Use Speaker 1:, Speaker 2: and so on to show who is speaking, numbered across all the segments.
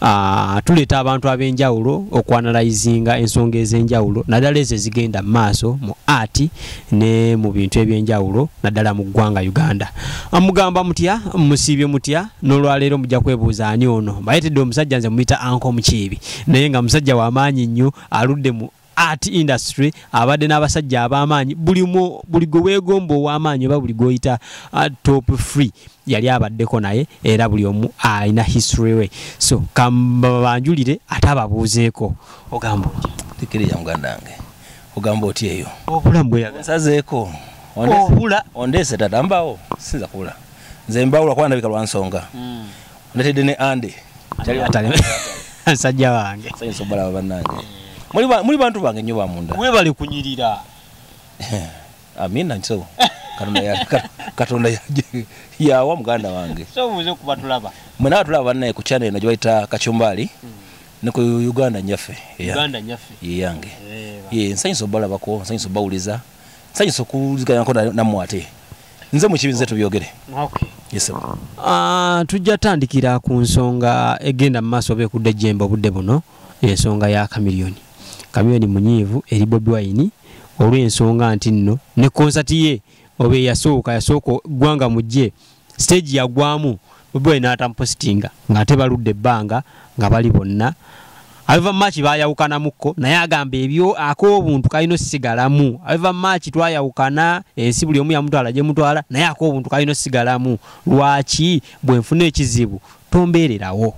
Speaker 1: Ah, tuleeta abantu ab'enjawulo okwanalayizinga ensonga ez'enjawulo naddala ezo ezigenda mu maaso mu art ne mu bintu eby'enjawulo naddala mu ggwanga uganda amugamba ah, mutya musiibye mutya n'olwaleero mujja kwebuuza ani ono mbayetedde omusajja nze muyita anko mukiibi naye nga musajja w'amaanyi nnyo aludde mu art industry abadde n'abasajja ab'amaanyi buli buli gwe weegomba ow'amaanyi oba buli gwoyita uh, top free yali abaddeko naye era buli omu alina history we so kambabanjulire ate ababuuzeeko ogamba tekiriya muganda
Speaker 2: wange ogamba oti eyo obulamu bweyasazeeko obula
Speaker 1: ondeese tata
Speaker 2: mbawo sinza kubula nze mbawula kuba ndabika lwa nsonga hmm. Natede ne Andy. Chali atale.
Speaker 1: Sajja wange. Sajja sobala banange.
Speaker 2: Muli ba muli bantu bange nyoba munda. Mwe bali kunyirira. Amina nso. Katonda ya Katonda ya ya wa muganda wange. So muze kubatulaba.
Speaker 1: Mwe na tulaba banange
Speaker 2: ku channel najibaita kachumbali. Mm. Ne ku Uganda nyafe. Uganda nyafe.
Speaker 1: Ye yange.
Speaker 2: Ye nsanyiso balaba ko nsanyiso bawuliza. nsanyusa okuwuliziganako nammwe ate nze mukibi nze tubyogere ah, tujja
Speaker 1: tandikira ku nsonga egenda mu maaso oba ekudde jemba obudde buno ensonga ya kamiliyoni kamiliyoni munyiivu eri bobi wayini olw'ensonga nti nno ne konsati ye oba eyasooka yasooka ggwanga mujje stage yagwamu bobi natamupositinga ng'ate baludde ebbanga nga bali bonna aveva maaki bayawukanamukko naye agamba ebyo ak'obuntu kalina osigalamu aveva maaki twayawukana ensi buli omu yamutwala gye mutwala naye ak'obuntu kalina osigalamu lwaki bwe nfuna ekizibu tombeererawo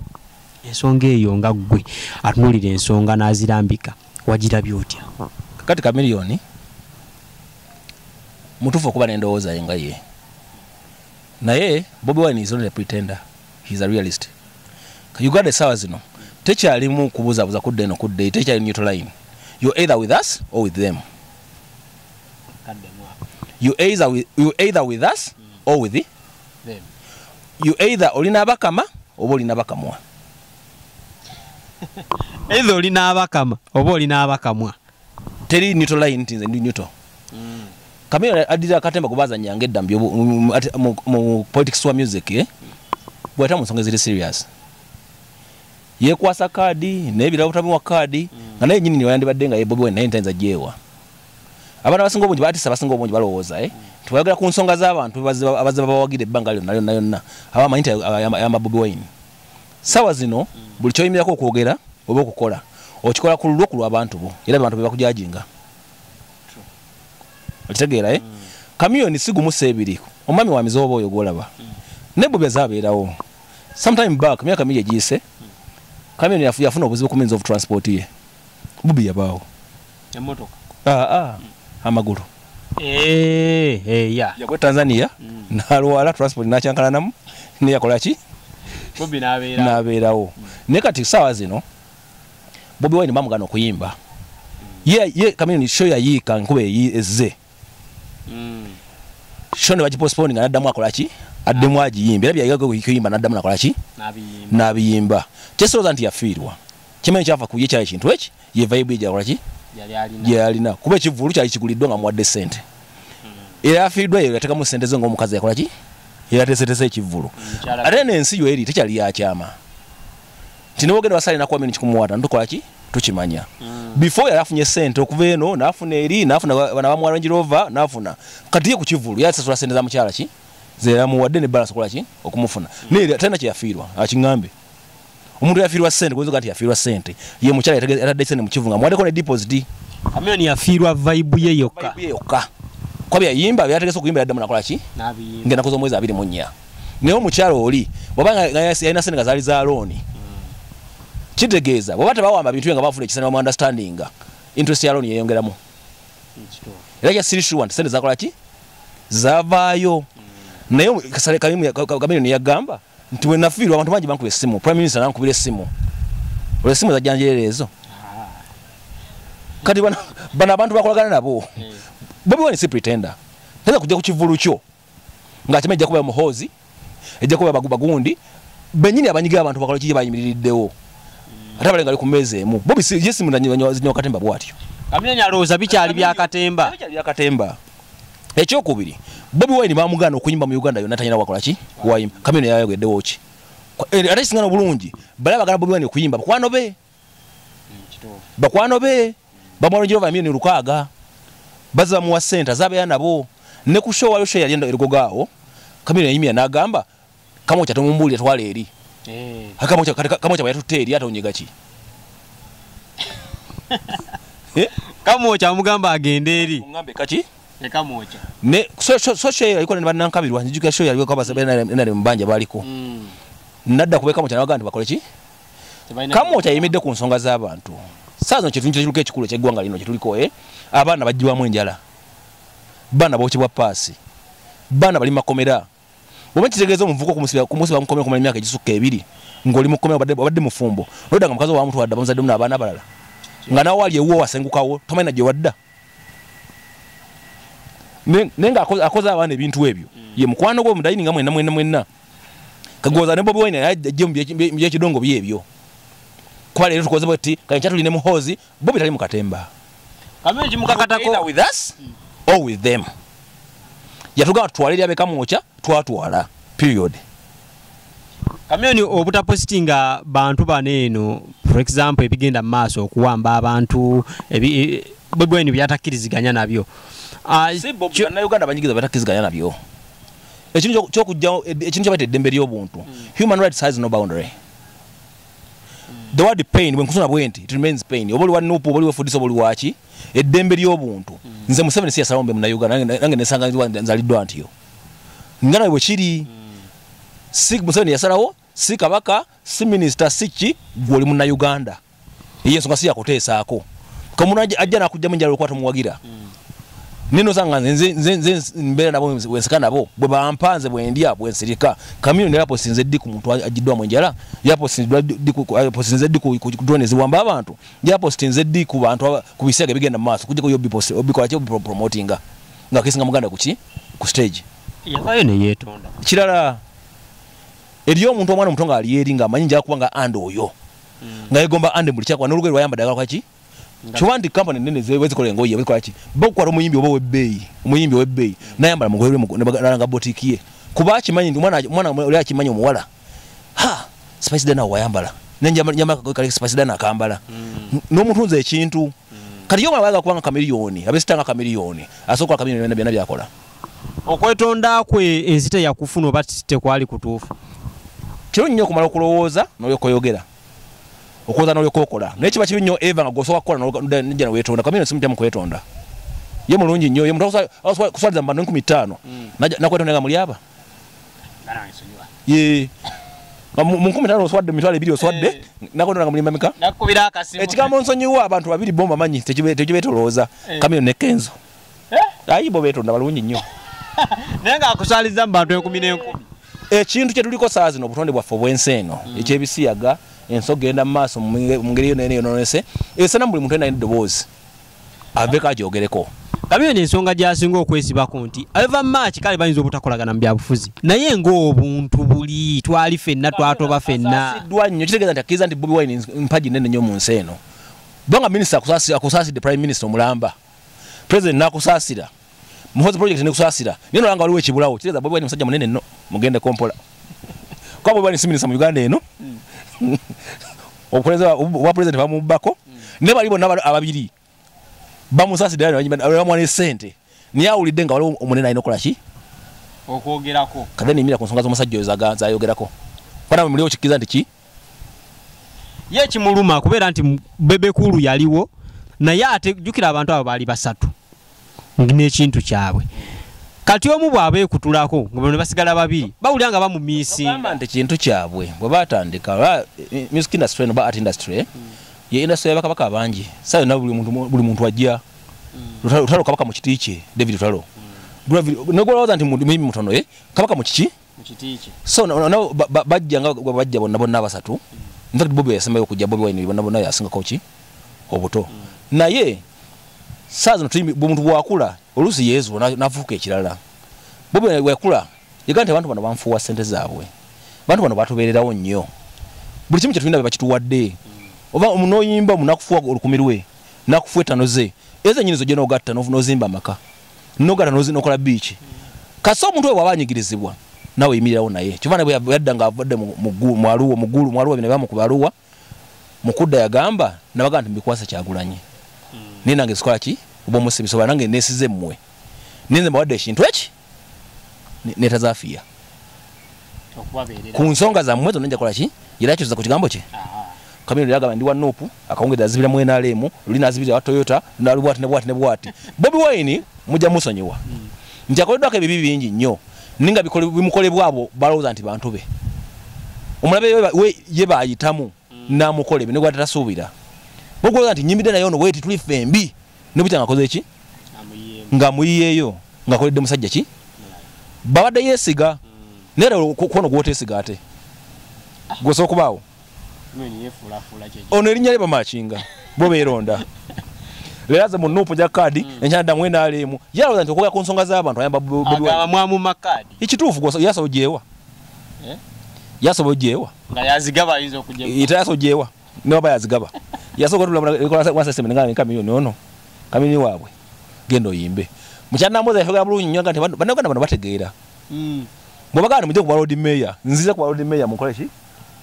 Speaker 1: ensonga eyo nga ggwe atunuulira ensonga n'azirambika wagirabye otya kati kamiliyoni
Speaker 2: mutuufu okuba n'endowooza ye nga ye naye bobi wine is only a pretender he's a realist uganda esawa zino tekyalimu kubuzabuza kudda eno kudda eyi tekyali neutral line you either with us or with them you either with, you either with us mm. or with the, them
Speaker 1: you
Speaker 2: either olina abakama oba olina bakamwa
Speaker 1: either olina abakama oba olina abakamwa teri neutral
Speaker 2: line tinze ndi neutral mm. kamera adira akatemba kubazanya ngedda mbyo mu politics wa music eh bwata musonga ziri serious yekwasa kadi naye birawo tabi wa kadi mm. nga naye nyini ni wayandi badenga ye bobi wena ntanza jewa abana basinga obunji bati sabasinga obunji balowoza eh mm. twagala ku nsonga za abantu bazaba bazaba bawagide bangalyo nayo nayo na abamanyi yamba bobi wine sawa zino buli kyoyimirako okwogera oba okukola okikola ku lulwo ku lwabantu bo era abantu bebakujajinga okitegeera e eh? mm. kamiyoni sigumusa ebiri omwami wa mizoba oyo gwolaba mm. naye bobi aze abeerawo sometime back myaka mingi egiyise mm. kamiyoni yafuna obuzibu ku means of transport ye bobi yabaawo emotoka aa ah, ah, amagulu eh, eh,
Speaker 1: yagwa tanzania mm.
Speaker 2: nalwala transport nakyankalanamu neyakolaki
Speaker 1: nabeerawo mm. naye kati saawa
Speaker 2: zino bobi wine bamugana okuyimba ye kamini sho yayiika nkuba ezze mm. show ne bagipostpone nga naddamu akola ki addemu agiyimba era byayigaga kuyimba naddamu nakola ki n'abiyimba kyesirooza nti yafiirwa kimanyi kyava ku ye kyali ekintu eki ye vibe ye gyakola ki gye yalina kuba ekivulu kyali kiguliddwa nga muwadde ssente hmm. era yafiiriddwa yeyo yatekamu ssente ze ngaomukazi yakola ki era tesetese ekivulu ate nensi yo eri tekyali yakyama nti newogenda wasale nakuwa mini kikumuwata ntukola ki tukimanya mm. before yali afunye sente okuva eno nafuna eri nafuna bana bamuwa range rover nafuna kati ye ku kivulu yasasula sente za mukyala ki zeyamuwadde ne balance okola ki okumufuna mm. naye talina kyeyafiirwa akiŋambe omuntu yafiirwa sente kuyinza nti yafiirwa sente ye mukyala yatadde sente mu kivu nga muwaddeko ne deposit amiyoni yafiirwa
Speaker 1: vibe ye yokka yokka
Speaker 2: kuba byayimba byategese okuyimba yaddamu nakola ki ngenda kuza omwezi abiri mu nnya naye omukyalo oli obaayalina sente nga zaali za looni kitegeeza bweba tebawamba bintu nga bafuna ekisana bamu understandinga interest ya looni yeyongeramu era kya siri sure nti sente zakola ki zavaayo naye kasale kamiliyoni yagamba nti wenafiirwa abantu bangi bankuba essimu prime minister nankubira essimu olwo essimu zajjanjerera ezo ah. kati bano abantu bakolagana nabo eh. bobi wani si pretender tayinza kujja ku kivulu kyo nga kima ejja kuba muhozi ejja kuba bagundi benyini abanyiga abantu bakalo kije bayimiririddewo ate abalenga ali ku mmeeza emu bobi yesi munanyiwa katemba bwatyo amenya alowooza
Speaker 1: bikyali bya katemba bya katemba
Speaker 2: ekyokubiri bobi wine bamugana okuyimba mu uganda yonna tanyina wakola ki wayimba kamino yayogeddewo ki eh, ate kisingana obulungi bala bagala bobi wine okuyimba bakwano be bakwano be bamwalo jehova emiyoni lukaaga baze bamuwa sente azabeera nabo ne ku show wayo show yali erigogaawo kamiro yayimira n'agamba kamokya tomumbuulira twala eri eh. kamokya bweyatutte eri ate onyega ki eh?
Speaker 1: kamokya amugamba agenda eri kaki
Speaker 2: soshoyalikobanankabirwanjukira show yaliko abasabnare mubanja baliko mm. nadda kubekamokyanawaga nti bakole ki kamu okyayimidde ku nsonga z'abantu saazo kyetuntu kiruka ekikulu ekyeggwanga lino kyetuliko e abaana bajjibwamu enjala baana bokibwa paasi baana bali makomera oba kitegeeza omuvuka okumusiba mukomera kumala emyaka egisukka ebiri ng'oli mukomera obadde mufumbo noda nga mukazi owamutu wadda bamuzaddemu n'abaana abalala nga nawe wali ewuwo wasengukawo tomanyi nagye wadda naye nga akoze abaana ebintu ebyo ye mukwano gwe omudayini nga mwena mwena mwena kagoza ne bobi wine ajje mu byekidongo bye ebyo kuba leero tukoze bwetti kale kyatuli ne muhoozi bobi tali mu katemba
Speaker 1: with us
Speaker 2: or with them yatugamba tutwale lyabekamwokya twatwala period
Speaker 1: kamyoni obutapositinga bantu bano eno for example ebigenda mu maaso okuwamba abantu e, bwebweni byatakkiriziganya nabyo ah, si bobi
Speaker 2: bannayuganda banyigiza batakkiriziganya nabyo ekintu kyokujjawo ekintu kyabaita eddembe ly'obuntu human rights has no boundary the word pain bwenkusuna bwenti it remains pain oba oli wa nupu oba oli wefudisa oba oli waki eddembe ly'obuntu nze museveni si yasalawo mbe munauganda nange nesanga nzaliddwa ntiyo nga nawe bwekiri si museveni yasalawo si kabaka si minisita si ki gwe oli munnayuganda eyo ensonga si yakuteesaako kamuntu ajja nakujjamu enjala olwokuba tomuwagira hmm. nino zanga nze nze mbeera nabo wensika nabo bwe bampa nze bwendya bwensirika kamino ne yaposi nze ddi ku muntu agiddwamu enjala yaposi nze ddi ku drone ziwamba abantu yaposi nze ddi ku bantu ku bisiyaga ebigenda mu maaso kujjako yo bikola ki obipromotinga nga kesinga muganda kuki ku stage yavayo neyetonda
Speaker 1: kirala
Speaker 2: eri omuntu omwana omuto ngaali eri nga amanyi njakuba nga and oyo mm. nga yegomba and buli kyakuba nolugoye lwayamba dagala kwaki kyoba nti kampani nene zikola engoye zikolaki bakukwata omuyimbi oba owebbeeyi omuyimbi owebbeeyi mm. nayambala mugoye lwemulanga botiki ye kuba akimanyi nti mwana oli akimanyi omuwala ha spice dana wayambala nenjamakakoekale spice dana akambala mm. nomutunza ekintu kati yo mwana bayaga kubanga kamiliyoni abesitanga kamiliyoni asobola kola kamiliyoni byona byakola okwetonda
Speaker 1: kwe ensi teyakufuna oba tekwali kutuufu kiro
Speaker 2: nnyo okumala okulowooza nolyokoyogera okulowooza nolyokokola naye kiba kibi nnyo eva nga gwosobola kukola nija newetonda kamina simu tyamu kwetonda ye mulungi nnyo ye muntu kuswaliza mu bantu enkumi ttaano mm. nakwetonda nga mulyaba ye munkumi tano oswadde mitwalo ebiri oswadde eh. nakonona nga mulimba mika ekigambo
Speaker 1: nsonyiwa abantu
Speaker 2: babiri bo mbamanyi tekibetolooza eh. kamiro nekenzo eh? ayi bo betonda balungi nnyo naye nga
Speaker 1: akusaliza mu bantu enkumi n'enkumi ekintu kye
Speaker 2: tuliko saa zino obutonde bwaffe obw'ensi eno mm. eky'ebisiyaga ensi okugenda mu maaso mu ngeri yona yona yononese esana mu buli muntu ena eddoboozi aveko agyogereko kabi eno ensonga
Speaker 1: gyasinga okwesibako nti ava maaki kale bayinza obutakolagana mu byabufuzi naye ngaobuntu buli twali fenna twatoba fennaiddwa nnyo kitegeeza nti
Speaker 2: akkiriza nti bobi wine mpagi nene nnyo mu nsi eno kubanga minisita akusaasidde prime minisita omulamba president nakusasira muhozi project nekusasira nino langa waliwo ekibulawo kireza bobi wine musajja munene no mugende kompola kwa bobi wine siminisa mu uganda eno hmm. obukuleza wa president bamubako hmm. ne bali bonna ababiri bamusasira bamwana sente naye awulidde nga waliwo omunene alina okola ki okwogerako
Speaker 1: kade nimira ku nsonga
Speaker 2: z'omusajja oyo zayogerako fana muliwo kikkiriza nti ki
Speaker 1: ye kimuluma kubeera nti bebekulu yaliwo naye ate jukira abantu abo baali basatu nekintu kyabwe kati omu bwaba ekutulako nga basigala babiri bawulira nga bamumisinga nti kintu kyabwe
Speaker 2: bwe batandika eh, music industry no art industry eh, ye industry yabakabaka bangi saa yona buli muntu ajja lutalo kabaka mu kiti kye david lutalo negwolowooza nti mimi mutono eh, kabaka mu kiki so nabo bajja nga bajja bonna bonna abasatu mm. infact bobi yasembayo okujja bobi wine bonna bonna yasingako ki obuto mm. naye saa zino omuntu bwakula oluusi yezu nafuuka ekirala bobi wekula yega nti abantu bano banfuuwa sente zaabwe abantu bano batubeererawo nnyo buli kimu kyetulina bebakituwadde oba noyimba munakufuwa olukumi lwe nakufuwa etano ze ezo enyini zo gye nogatta nozimba amaka nogana nozinokola biiki kasi omuntu webwaba anyigirizibwa nawe yimirirawo naye kyova nabwe yadda nga avadde mwaluwa mugulu mwaluwa bino bamukuba aluwa mukudda yagamba nabaga nti mbikwasa kyagulanyi hmm. naye nange zikola ki oba omusibisoba nange nesize mmwe ninze mbawadde ekintu eki netazafiya ku nsonga zammwe zonna njakola ki era kyoza ku kigambo kye Kamino yagamba ndi wa Nup akawungedde azibira mu NRM luli nazibira wa Toyota nalu bwati ne bwati ne bwati Bobi Wine mujja musonyiwa mm. nti akoleddwako ebibi bingi nnyo ninga bimukolebwa abo balowooza nti bantu be omulabe we ye bayitamu mm. namukola ebyo negwata tasuubira bokulowooza nti nyimbidde naye ono weti tuli fembi ne butya ngakoze ki nga muyiyeeyo ngakoledde musajja ki babadde yeesiga mm. naye era kwono gwotesiga ate ah. gwosobola okubaawo ono erinnya lye bamakinga bo beeronda leero aze mu nuupu gya kaadi hmm. enkyanda mu nrm yalowooza nti okwogera ku nsonga z'abantu ayambamwamuma kaadi
Speaker 1: ekituufu yasobo
Speaker 2: gyewa eh? yasobo
Speaker 1: gyewa ita yasobo gyewa
Speaker 2: newaba yazigaba yasooka tulamunakamiyoni ono kamiyoni waabwe genda oyimbe mukyanamboza yafegera bulungi nyo nti bannaganda bano bategeera hmm. bwebaganda mujja kuba lodi meya nziza kuba lodi meya mukoleki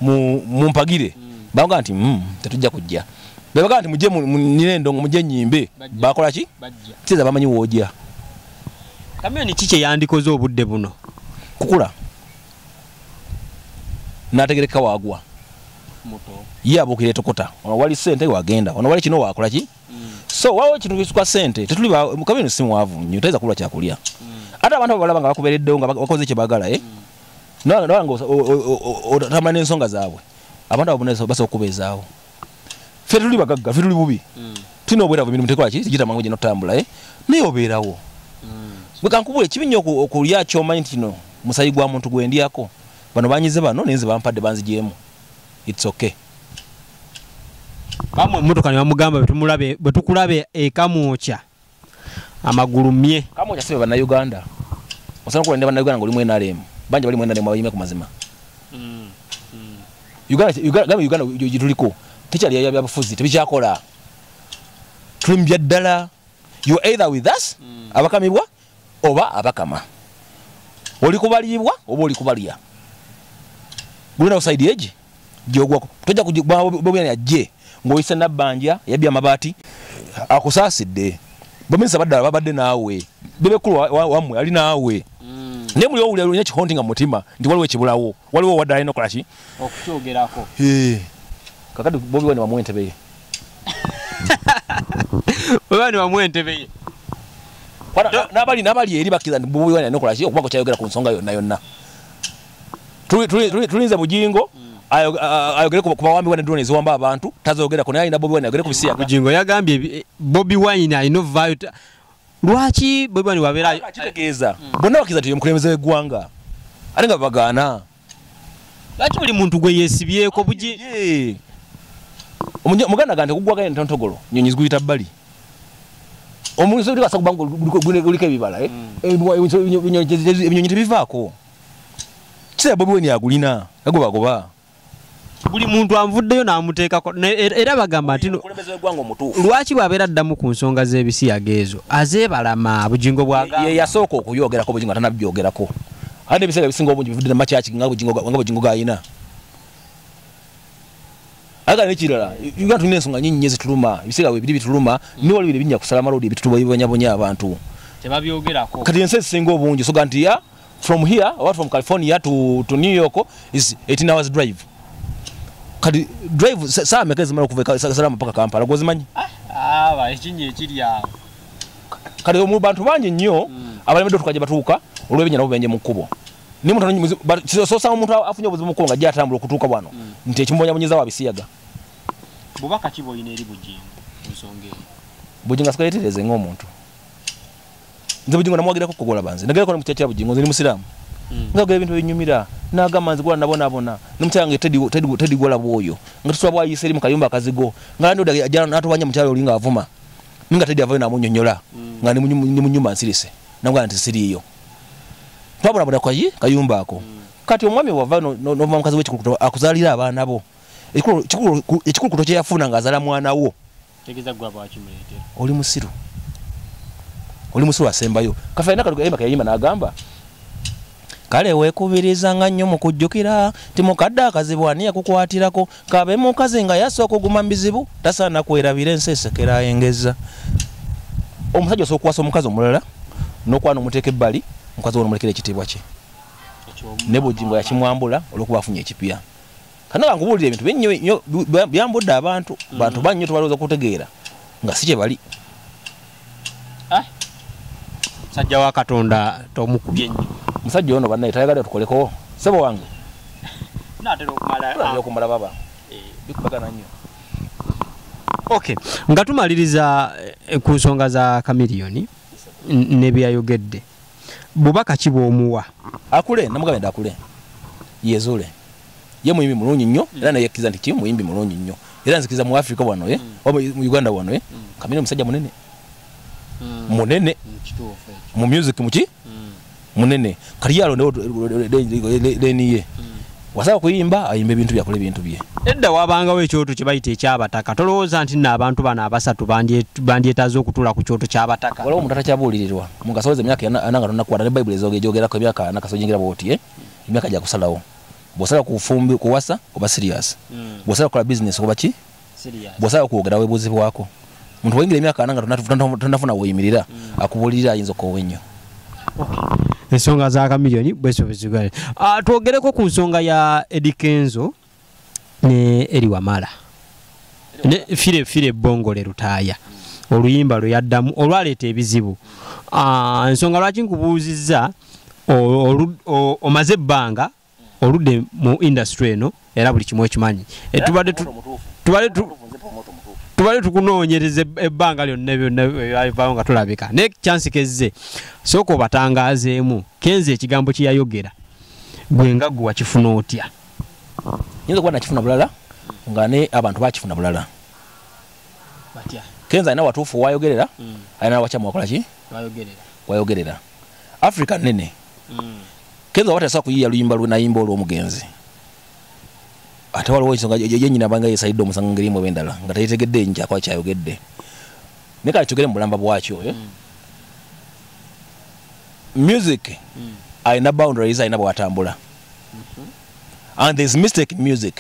Speaker 2: mumpagire baga nti mm, tetujja kujja bebaga nti muje nina endongo muje nyimbe bakola ki kiza bamanyi woja
Speaker 1: kamyoni ki kyeyandikoze obudde buno kukula
Speaker 2: nategereka wagwa
Speaker 1: ye abuukira etokota
Speaker 2: ono wali sente wagenda ono wali kino wakola ki mm. so wawo ekintu kisukwa sente tetuli kamyoni simwavu nyo tayinza kulwa kyakulya mm. ate abantu abo balaba nga bakubereddewo nga bakoze kyebagala e eh? mm. nolanga otamanya n'ensonga zaabwe abantu abo basobola okubeezaawo fe tuli bagagga fe tuli bubi hmm. tulina obweravu emirimu tekolaki gitamangu gino otambula eh? naye obeerawo hmm. kankubula ekibi nnyo okulya kyomanyi nti kino musayi gwa muntu gwendyako bano banyize bano naye nze bampadde banzigyemu its okay
Speaker 1: bamwe emmotoka ne bamugamba bwetukulabe ekamwokya amagulu mye kama ojasibe bana Uganda
Speaker 2: osana ko ndeba na Uganda ngoli mwena rem banje bali mwena rem abayime kumazima mm. mm. Uganda Uganda Uganda yituliko tichali ya yabafuzi tibichakola tulimbya dala you either with us mm. abakamibwa oba abakama oli kubalibwa oba oli kubalya gulina usaidi eji gyogwako tojja kubobina yajje ng'oyise nabbanja yabbye amabaati akusaasidde baminisa baddala babadde naawe bebekulu wammwe ali naawe mm. naye muli owulira olina ekihonti nga mutima nti waliwo ekibulawo waliwo waddala alina okukola ki okukyogerako kakati bobi wani wamu entebeye
Speaker 1: bobi wani wamu entebeye nabali
Speaker 2: nabali eri bakira bobi wani alina okukola ki okuba kwekyayogera ku nsonga yonna yonna tulinze bujingo ayogere ku bawambi wine drone eziwamba abantu tazogera kuna ina bobi wine ayogere ku bisiya bujingo yagambye
Speaker 1: eh, bobi wine i know value lwaki bobi wine wabera kitegeeza bonna
Speaker 2: bakiza tiyo mukulembeze wegwanga ate nga bagana
Speaker 1: lwaki buli muntu gwe yesibyeko buji
Speaker 2: muganda gante kugwaganya ntontogolo nyonyi ziguyita bbali omuntu sobikwasa kubanga guliko ebibala eh? mm. eh, ebinyonyi tebivaako kisa bobi weni agulina agobagoba
Speaker 1: buli muntu anvuddeyo n'amuteekako er, era bagamba nti lwaki bw'abeera addamu ku nsonga z'ebisiyaga ezo azeebalama bugingo bwayasooka okuyogerako
Speaker 2: bugingo atanabyogerako ate n'ebiseera ebisinga obungi bivudde namakyaki nga bugingo gayina aga nekirala uganda tulina ensonga nyingi nyo zituluma ebiseera webiri bituluma mm. niwali biri binya kusala malodi ebitutubonyabonya abantu
Speaker 1: kati ensi ezisinga
Speaker 2: obungi soga nti ya from here or from california to, to new york is 18 hours drive kati drive saa meka ezimala okuva salamu paka kampala gwozimanyi ah, ah, ekinyi
Speaker 1: ekiri awo kati
Speaker 2: mu bantu bangi nnyo hmm. abalemedde otukaje batuuka olw'ebinya nabo benje mu kkubo nimutososa omuntu afunye obuzibu mukkubo nga gyatambula okutuuka wano hmm. nti ekimubonyabonyeza wabisiyaga
Speaker 1: bubaka kiba olina eri bugingo nsonga eyo bugingo asikayetereze
Speaker 2: ng'omuntu nze bujingo namwagerako kugolaba nze nagerako nomutyatya bujingo nze ni musiraamu hmm. ngagera ebintu ebinyumira nagamba nze gola nabonabona nomukyala nge tedi gola bwoyo nga tusula bwayisa eri mu kayumba akazigo nga natubanja mukyala oli nga avuma nga tedi avayo namunyonyola hmm. nga ni munyumba nsirise nagamba nti siriiyo twabonabona kwayi kayumba ako hmm. kati omwami wava nova mukazi wekikulukuto akuzalira abaana bo ekikulukuto kyeyafuna nga azala mwana wo tegeza gwa bwaki mulete oli musiru oli musiru asembayo kafena kaluga yema kayima nagamba kale wekubiriza nga nnyo mu kujjukira nti mukadde akazibu ani yakukwatirako kabe mukazi nga yasa okuguma mu bizibu tasaana kwerabira ensi esekera engeza omusajja osobola okukwasa omukazi omulala n'okwana omuteeka ebbali mukazi wono mulekera ekitiibwa kye ne bujingo yakimwambula olwokuba afunye ekipya kana kankubuulira ebintu binnyo nyo byambudde abantu mm. bantu bannyo tubalowooza kutegeera nga si kye bali ah.
Speaker 1: musajja wa katonda tomukubye nnyo musajja ono bannaye
Speaker 2: tayagala tukolekowo sebo wange
Speaker 1: ah. okumala baba
Speaker 2: eh. bikubagana nnyo
Speaker 1: ok nga tumaliriza eh, ku nsonga za kamiliyoni nebyeyayogedde bubaka ki bwomuwa akule namugamba
Speaker 2: nti akule yezuule ye muyimbi mulungi nnyo mm. era naye yakkiriza nti ki muyimbi mulungi nnyo era nzikiriza mu afrika wano ye eh? mm. oba mu uganda wano ye eh? mm. kamina omusajja munene munene mu music muki munene kati yalondewo leniye wasaba kuyimba ayimba ebintu byakole ebintu bye edda wabangawo
Speaker 1: ekyoto kye bayita ekyabataka tolowooza nti nno abantu bano abasatu bandyetaze okutuula ku kyoto kyabataka waliwo omuntu atakyabuulirirwa
Speaker 2: mungasoweza emyaka ananga tonakwata ne bayibuli ezogejogerako emyaka nakasojingira bwoti eh? emyaka gyakusalawo bwosala kufumbi kuwasa oba sirias hmm. bwosala kukola bizinesi oba ki bwosaba kwogera webuzibwako muntu wayingira emyaka ana nga tonafuna woyimirira akubuulirira ayinza okoowa ennyo
Speaker 1: ensonga za kamiliyoni bwesobezigale ah, twogereko ku nsonga ya edikenzo ne eri wamala fire fire ebongole lutaaya oluyimba lwe yaddamu olwaleeta ebizibu ah, ensonga lwaki nkubuuzizza omaze ebbanga oludde mu industry eno era buli kimu ekimanyi e, tubadde tubadde tukunoonyereza ebbanga lyonna byonnabyalivayo nga tulabika naye kyansi kezze sooka obatangazeemu kenze ekigambo kyeyayogera gwe nga gwe wakifuna otya nyinza
Speaker 2: okuba nakifuna bulala nga ne abantu bakifuna bulala kenze alina watuufu wayogerera hmm. alina wakyamu wakolaki wayogerera africa nene mm. kenza oba tasobola kuyiya luyimba lwe nayimba olw'omugenzi ate waliwo ensonga yenyini abanga yesalidde omusango ngeri emu ebendala nga teyetegedde njakuba kyayogedde naye kale tugere mu bulamba bwakyo eh? mm. music mm. alina boundaries alina bwatambula mm-hmm. and thereis mistake music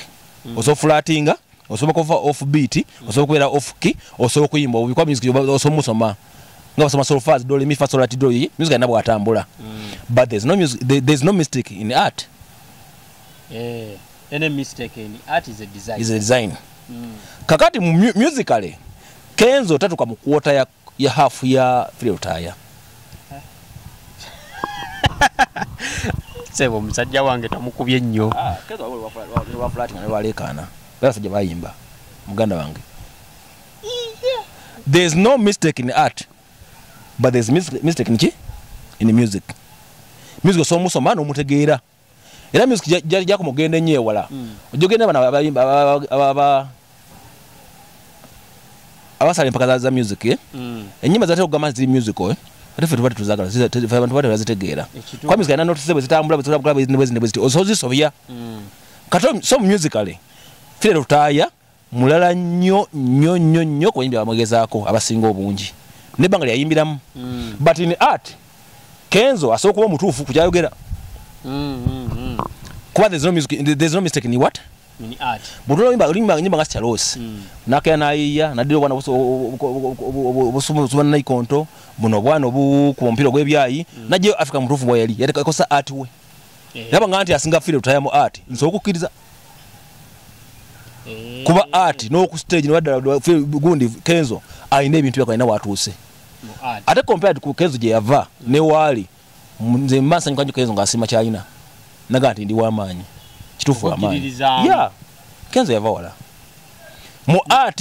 Speaker 2: mm. osofulatinga osobola kuva off beat osobola kubeera off key osobola okuyimba obikwa music osobola musoma nga basoma solfas do mi fa sol ati do yi music nabwo atambula mm. but there's no music there, there's no mistake in art eh
Speaker 1: any mistake in art is a design is a design mm.
Speaker 2: kakati mu musically kenzo tatuka mu quarter ya ya half ya file utaya
Speaker 1: sebo musajja wange tamukubye nnyo
Speaker 2: ah, walekana basajja bayimba muganda wange there is no mistake in art but there is mistake in ki in music music osobola omusoma n'omutegeera era music gyakoma okugenda ennyo ewala hmm. ojja ogenda bano abasala empaka za music eh? hmm. enyimba zatera okugamba nti ziri musical eh? ate fe tuba tetuzagala abantu bate bazitegeera kuba music alina notise bwezitambula bwezitambula bwezitambula bwezitambula osobola zisobya hmm. kati so musically fire lutaaya mulala nnyo nnyo nnyo nnyo ku bayimbi abamwegezaako abasinga obungi nebbanga lyeyayimbiramu mm. but in art kenzo asobola kuba omutuufu ku kyayogera mm, mm, kuba there's no music, there's no mistake in what
Speaker 1: bwotulaolimba
Speaker 2: nga sikyaloosi nakera nayiya naddira obwana obusumubanaikonto buno obwana obukuba omupiira ogwebyayi najjayo africa mutuufu bweyali yatekosa art we Eh. naba nga nti asinga file tutayamu art nsobola okukkiriza eh. kuba art n'oku stage nebaddala gundi kenzo alina ebintu byako alina watuuse ate compared ku kenzo gye yava ne waali nze mbansanyukanyo kenzo ng'asiima kyalina naga nti ndi wamaanyi kituufu wamaanyi ya kenzo yava wala mu art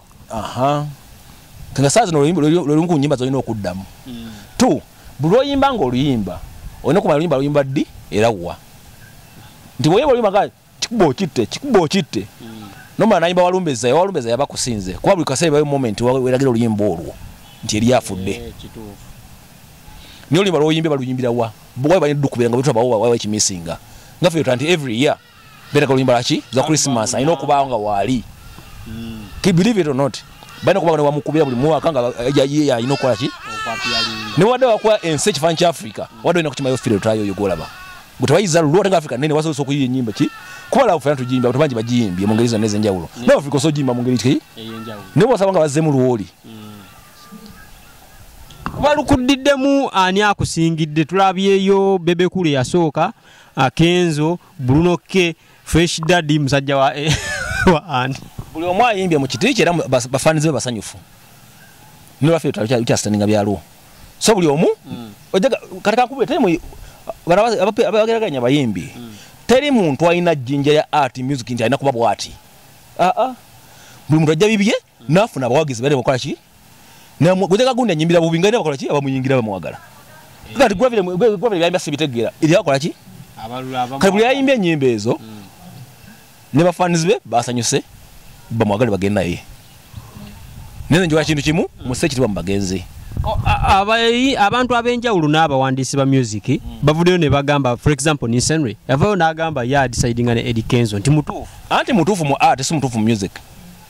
Speaker 1: aha
Speaker 2: nga saa zino lwelumu ku nyimba zolina okuddamu hmm. t buli oyimba nga oluyimba olina okumanya oluyimba luyimba ddi era wa nti bwoyimba oluyimba ga kikuba okitte kikuba okitte hmm. nomala nayimba walumbeza ewalumbeza yaba kusinze kuba buli kaseera bayo moment weragira oluyimba olwo nti eri afudde eh, naye oluyimba lwoyimbye baluyimbira wa bwawe balina dukubira nga bwetubawo wawe ekimisinga nga fe yotanti every year beraga oluyimba laki za christmas alina okubaawo nga waali believe it or not balina okuba nga newamukubira buli mwaka nga yayiye alina okukola ki newadde wakuwa ensi ekifaanyi kya africa wadde olina kukimayo fire otulayo oyo golaba gwe tebayiza lulwo ate nga africa nene wasobosa okuyiya enyimba ki kuba lawo fena tugiyimba abantu bangi bagiyimbye mu ngeri zonna ez'enjawulo mm. naye africa osobola ogiyimba mu ngeri ki naye wasaba nga bazzemu lwoli
Speaker 1: mm. balukuddiddemu ani akusingidde tulabyeyo bebekulu eyasooka akenzo bruno k fresh daddy musajja wa eh, wa ani buli omu ayimbye
Speaker 2: mu kiti kye era bafanize be basanyufu nolwafe tukyasitaninga byaliwo so buli omu mm. ojaga kati kankubule teri mu abageraganya abayimbi mm. teri muntu alina jjinja ya art music nti alina kuba bwati aa ah, ah. buli muntu ajja bibye nafuna abawagizi bale mukola ki namwe guteka gunda nyimbira bubi ngane bakola ki abamuyingira bamwagala kati gwa vile gwa vile yamba sibitegera ili yakola ki abalu abamu kati buli yayimbye nyimba ezo mm. ne ba fans be basanyuse bamwagale bagenda ye nene njoka kintu kimu mm. museki twa mbagenzi abayi
Speaker 1: abantu abenjawulo n'abawandiisi ba music mm. bavuddeyo ne bagamba for example nisenry yavayo n'agamba ye adisidinga ne edi kenzo nti mutuufu anti mutuufu mu art si mutuufu mu music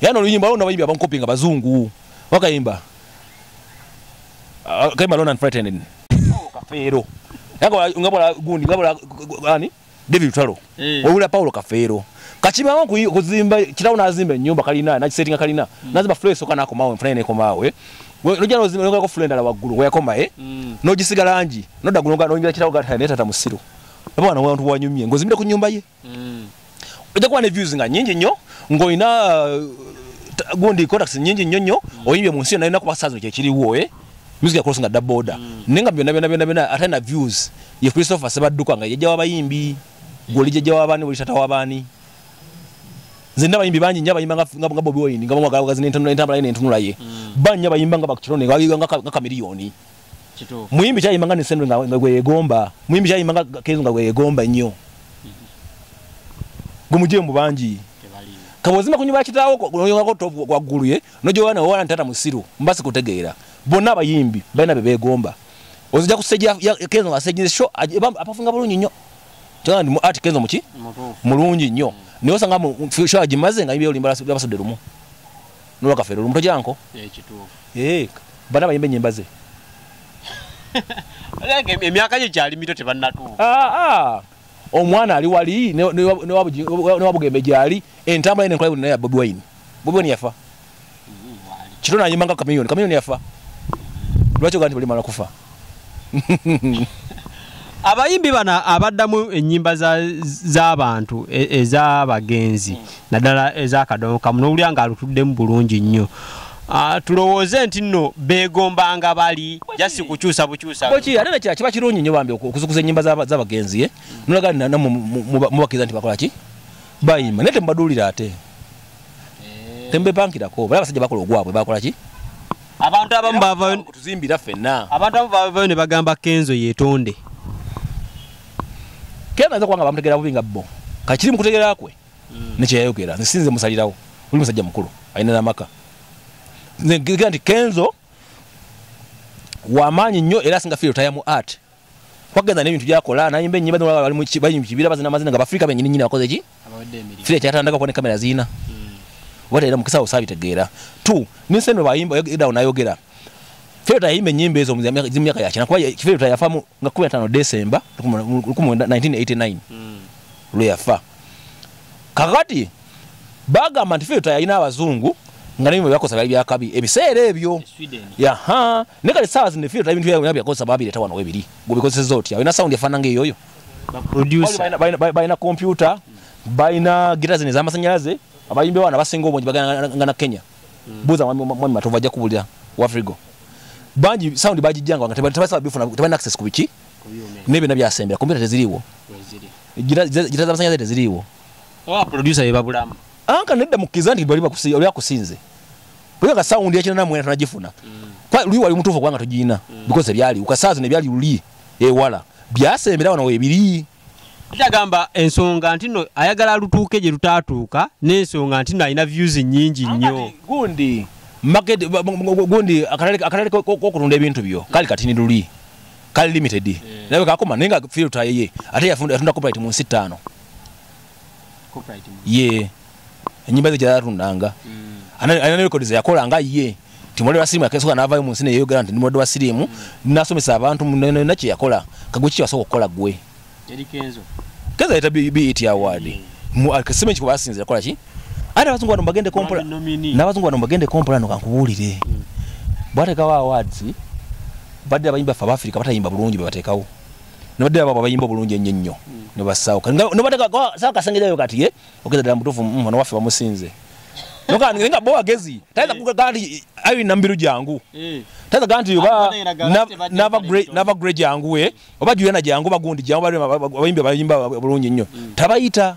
Speaker 1: era noluyimba waliwo nabayimbi abankopi nga bazungu wakayimba ah, kayimba lona nfretenen kafeero nga bwala gundi nga bwala ani david lutalo eh. owula paulo kafeero kakibawo kuzimba kirawo nazimba enyumba kalina nakisetinga kalina hmm. nazimba flo esoka nakomawo enfuna nekomawo eh. nojja nozimbaongako flo endala waggulu weyakoma eh. hmm. nogisigala ngi nodda gunoyingira kirawo gatata musiru oba wano wantu wanyumye ngaozimbire ku nyumba ye mm. ojja kuba ne views nga nyingi nnyo ng'olina uh, gundi contacts nyingi nnyo nnyo mm. oyimbye mu nsi yonna yonna kuba saazi kyekiriwo eh? music yakola nga daboda mm. naye nga byonna byonna byonna byonna ate na views ye christopher sebadduka nga yajja wabayimbi goli jajja wabaani buli tata wabaani nze nina abayimbi bangi nyo abayimba nga bobi wine nga bamwagala bagazi nentambula ye nentunula ye mm. banyo abayimba nga bakirone nga kamiriyoni muyimbi kyayimba nga nesendo nga gweyegomba muyimbi kyayimba nga kenzo nga gweyegomba nnyo gumuje mu bangi kabozima kunyumba kitaawo oyongako tovu gwaggulu ye nojowana owana ntata musiru mbasi kutegeera bonna abayimbi balina be beegomba ozija kusejja kenzo nga asejjire sho apafunga bulungi nnyo kyogamba ndi mu art kenzo muki mulungi nnyo naye osanga sho agimaze nga yimbi olimba basudde lumu nowa kafere olumuto janko eh, eh, bana bayimba enyimba ze emyaka gye gyali mito tebannatuuka ah, ah. omwana ali wali newabugembe gyali entambula ine enkola ya bobi wine bobi wine yafa mm, kito nayimba nga kamiyoni kamiyoni yafa lwaki ogaa nti balimala kufa abayimbi bano abaddamu ennyimba z'abantu e, ez'abagenzi naddala ez'akadongo kamu n'owulira ng'alutuddemu bulungi nnyo Ah, tulowooze nti nno beegombanga bali jasi kukyusa bukyusaate ate nekira kiba kirungi nyo bambi okuzukuza ennyimba z'abagenzi eh? nolaga nana mubakiriza nti bakola ki bayimba naye temubaduulira ate eh. temubepankirako bala abasajja bakola ogwabwe bakola ki abantu abamu bavayo tuzimbira fenna abantu abamu bavayo ne bagamba kenzo yetonde kenzo aza kubanga bamutegera bubi nga bo kakiri mukutegera kwe mm. nekyeyayogera nze sinze musalirawo oli musajja mukulu alina namaka nze ngira nti kenzo wamaanyi nnyo era singa fiire otayamu art wagenda n'ebintu byakola nayimba ennyimba zino bali mu kibira bazina amazina nga bafirika benyini nyini bakoze ki fire kyatandaka kuba ne kamera ziina hmm. oba teera mukisa osabitegeera t ninseno bayimba edawo nayogera Feta yimbe nyimbe ezo mzimu yaka yachina kwa feta yafamu nga 15 December 1989 mm. lwe yafa kakati bagamba nti filter yalina abazungu nga nebyo byakosa byali byakabi ebiseera ebyo yaha ne kale saawa zino filter ebintu byabwe byakosa babireeta wano webiri gubikozeseza otya olina sound efaana nga eyoyo balina kompyuta balina gita zino ez'amasannyalaze abayimbi
Speaker 2: baana basinga obungi bagana nga na kenya hmm. buuza mwami matovu ajja kubulira wafrigo bangi sound bagijjanga nga tebasaba bifuna tebalina access ku biki n'ebyona byasembera kompyuta teziriiwo gita z'amasannyalaze teziriiwo oba producer
Speaker 1: ye babulamu anka nedda mukiza
Speaker 2: nti bali bakusi oli akusinze bwe ka sound ya kinana mwena tunajifuna mm. kwa luli wali mutufu kwanga tujina mm. because byali ukasazi ne byali luli e wala byasembera wana webiri Ndagamba
Speaker 1: ensonga ntino ayagala lutuuke gye lutatuuka n'ensonga ntino alina views nyingi nnyo. Gundi
Speaker 2: market gundi akalale akalale kokutunda ebintu byo kali katini luli kali limited yeah. nawe kakoma nenga filter yeye ate yafunda yafunda copyright mu nsi tano
Speaker 1: ye
Speaker 2: enyimba ze kyalatundanga alina rekodi zeyakolanga ye timulwadde wa sirimu yakesoka n'avayo mu nsi neyeyogera nti ndi mulwadde wa sirimu nasomesa abantu nona kyeyakola kagwe ki kyewasoka okukola gwe
Speaker 1: kenzo yaleta
Speaker 2: bet award kasima ekiko basinza yakola ki ate abazungu bano mbagende kompola n'abazungu bano mbagende kompola no kankubuulire mm. bwatekawo awards badde abayimbi baffe abafirika batayimba bulungi bebatekawo nabadde ababo abayimba obulungi ennyo nnyo nebassaawo nobatekasawa kasengerayo kati ye ogeza ddala mutuufu mm, ono waffe bamusinze nga bo wagezi tayinza kugamba nti ayi nambiru jangu eh. tayinza kugamba nti oba nava gre jangu we eh. oba juyana jangu bagundi jangu abayimbi abayimba bulungi nnyo hmm. tabayita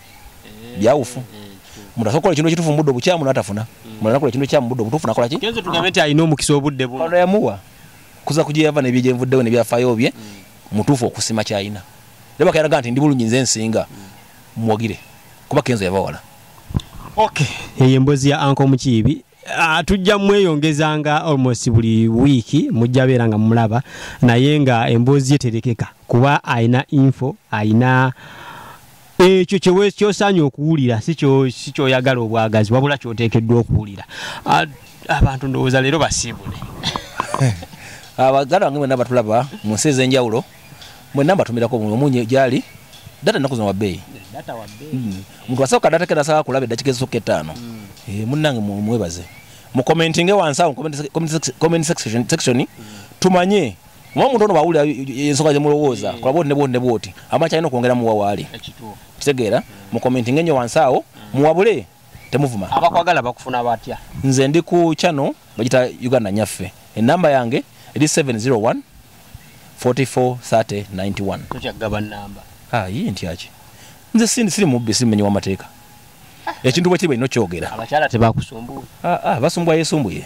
Speaker 2: byawufu omuntu asobola okukola ekintu ekituufu mu budde obukyamu n'atafuna mulala nakola ekintu ekyamu budde obutuufu nakola ki kenze tugambe nti alina omukisa
Speaker 1: obudde bu ono yamuwa
Speaker 2: kuza ku gye yava n'ebyo gye nvuddewo ne byafaayo bye mutuufu okusima ky'alina naye bakayalaga nti ndi bulungi nze nsinga muwagire kuba kenzo yava wala
Speaker 1: okay eyo embozi ya anko mukiibi Ah, tujja mweyongeza nga almost buli wiiki mujja beera nga mumulaba naye nga emboozi ye terekeka kuba alina info alina ekyo kyosaanye okuwulira si kyoyagala obwagazi wabula kyoteekeddwa okuwulira abantu ndowooza leero basiibule abaganda
Speaker 2: bange mwena batulaba mu nsi ez'enjawulo mwena mbatumirako omunye gyali data ennaku zino wabbeeyi hmm.
Speaker 1: omuntu asooka data
Speaker 2: kenasaba kulaba eddakika ezisooka ettaano hmm. eh, munnange mwebaze mukomentinge wansi awo comment section hmm. tumanye Mwa muntu ono bawulira ensoka zemulowooza mm. kulaboti ne bwoti ne bwoti amaki alina okwongera muwa waali kitegeera mm. mu commenting enyo wansi awo mm. muwabule temuvuma abakwagala bakufuna
Speaker 1: batya nze ndi ku
Speaker 2: channel bagita uganda nyaffe enamba yange eri 701 44 30 91 tokyagaba namba
Speaker 1: ah, yii ntyaki
Speaker 2: nze sindi siri mubbi simenyi wamateeka ah. ekintu bwe kiri balina okyogera abakyala tebakusumbuwa
Speaker 1: ah, ah,
Speaker 2: basumbuwa yesumbuye